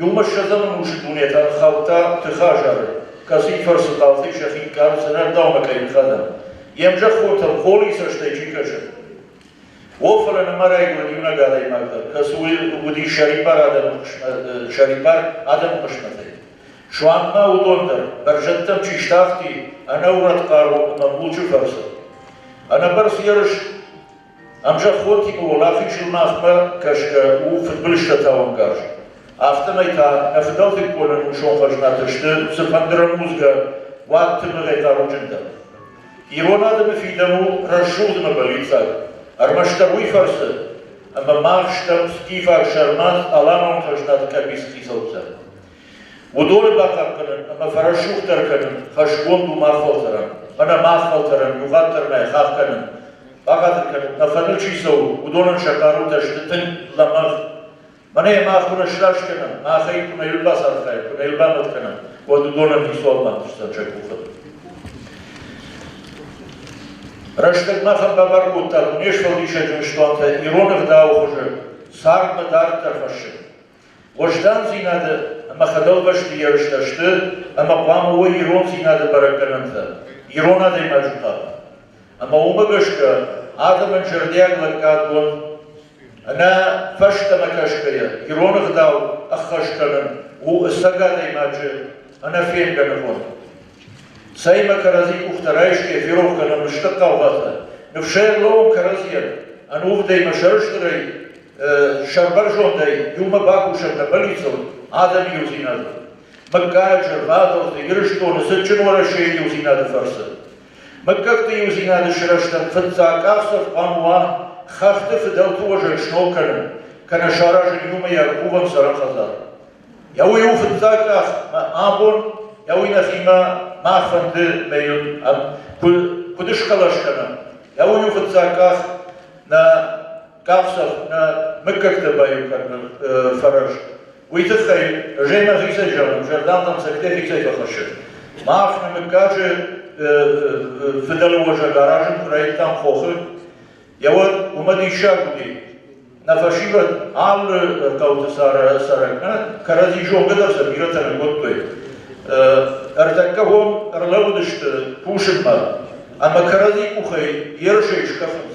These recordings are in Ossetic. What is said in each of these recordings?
Иумӕ ссӕдзӕмы мусы дунетӕ ӕрхаудта тыхы азары, кӕцыйы фӕрцы хъалты сӕхи кард зынӕгдаумӕ кӕй ныххӕдӕм, йе мзӕххонтӕм холи цӕстӕй чи кӕсы. О, фӕлӕ нымӕ райгуырд иунӕг адӕймаг дӕр, кӕцы уыди сӕрибар адӕмы хъысмӕт, сӕрибар адӕмы хъысмӕтӕй. Суанг ма уыдон дӕр, бӕрзӕдтӕм чи стахти ӕнӕурӕд хъару ӕмӕ мулчы фӕрцы. Ӕнӕбӕрц ерыс Ӕмзӕххотимӕ уӕлахизыл Нартмӕ гӕсгӕ у фыдбылызтӕ тауӕнгарз, афтӕмӕй та нӕ фыдӕлтыккон ӕнусон хӕзнатӕ сты цыфӕнды рӕмудзгӕ уад тымыгъӕй хъаруджындӕр. Ирон адӕмы фидӕн у рӕсугъд ӕмӕ бӕллиццаг, ӕрмӕстдӕр уый фӕрцы, ӕмӕ мах стӕм скифаг сӕрмагъ аланон хӕзнаты къӕбиц хицӕуттӕ. Уыдоны бахъахъхъӕнын ӕмӕ фӕрӕсугъддӕр кӕнын хӕсгонд у мах фӕлтӕрӕн, мӕнӕ мах фӕлтӕрӕн иугъӕддӕрмӕй хахх кӕнын, бахатыр кӕнут, нӕ фӕныл чи цӕуы, уыдонӕн сӕ хъарутӕ сты тынг лӕмӕгъ. Мӕнӕ йӕ мах уын ӕсраст кӕнӕм, махӕй куы нӕ ӕрбацархайӕм, куы нӕ ӕрбамӕт кӕнӕм, уӕд уыдонӕн ницуал ма тыхсдзӕн сӕ къухы. Рӕстӕг махӕн бабар кодта, Дунесфӕлдисӕджы ыстуантӕ ирон ӕгъдауы хуызы цардмӕ дарддӕр хӕссын. Уӕздандзинады ӕмӕ фӕдӕлбӕсты ерыстӕ сты ӕмӕ хъуамӕ уой ирондзинады бӕрӕггӕнӕнтӕ ирон адӕймаджы хъӕд. Ӕмӕ уымӕ гӕсгӕ адӕмӕн зӕрдиаг лӕггадгонд ӕнӕ фӕстӕмӕ кӕсгӕйӕ ирон ӕгъдау ӕххӕст кӕнын у ӕцӕг адӕймаджы ӕнӕфенгӕ ныв. Цӕимӕ кӕрӕдзи къухтӕ райсгӕйӕ ферох кӕнӕм стыр хъаугъатӕ, ныфсӕй ӕрлӕууӕм кӕрӕдзийӕн, ӕнувыдӕй ӕмӕ сӕрыстырӕй сӕрбӕрзондӕй иумӕ бакусӕн нӕ бӕллицон адӕмы иудзинадыл. Мыггаг, зӕрватолты, Ирыстоны цытджын Уӕрӕсейы иудзинады фӕрцы. Мыггӕгты иудзинады сырӕзтӕн фыццаг къахдзӕф хъуамӕ уа хӕхты фыдӕлты уӕзӕй сног кӕнын, кӕнӕ саразын иумӕйаг хъувӕн цӕрӕн хӕдзар. Я уый у фыццаг къах мӕ абон, я уый нӕхимӕ мӕ фӕнды мӕйон куыд схъӕлӕс кӕнӕм, я уый у фыццаг къах нӕ къахдзӕф нӕ мыггӕгтӕ баиу кӕнын фӕрӕз, уый тыххӕй Женя хицӕй зӕгъын, зӕрдӕхъӕн цӕгтӕй хицӕй фӕхӕссын. Мах нӕ мыггаджы фыдӕлы уӕзӕг аразын куы райдыдтам хохы, йӕ уӕд уымӕ диссаг уыди. Нӕ фӕсивӕд алы хъӕуты цӕрӕг нӕ кӕрӕдзи зонгӕ дӕр сӕ бирӕтӕ нӕ кодтой. Ӕртӕккӕ уон ӕрлӕууыдысты кусынмӕ ӕмӕ кӕрӕдзи къухӕй ерысӕй скафынц.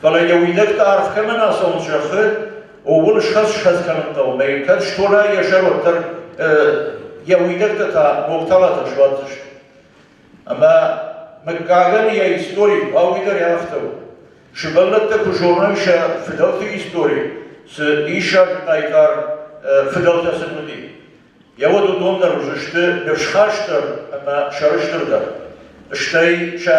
Фӕлӕ йӕ уидӕгтӕ арф кӕмӕн ацӕуын зӕгъы, ууыл схӕц-схӕц кӕнын хъӕуы, мӕ кӕд стона йӕ сӕр, уӕддӕр йӕ уидӕгтӕ та Мохталатӕн суадздзысты. Ӕмӕ мыггагӕн йӕ истори хъуауи дӕр афтӕ у. Сывӕллӕттӕ куы зоной сӕ фыдӕлты истори, цы диссаг хъайтар фыдӕлтӕ сын уыди, йӕ уӕд уыдон дӕр уыдзысты ныфсхастдӕр ӕмӕ сӕрыстырдӕр. Стӕй сӕ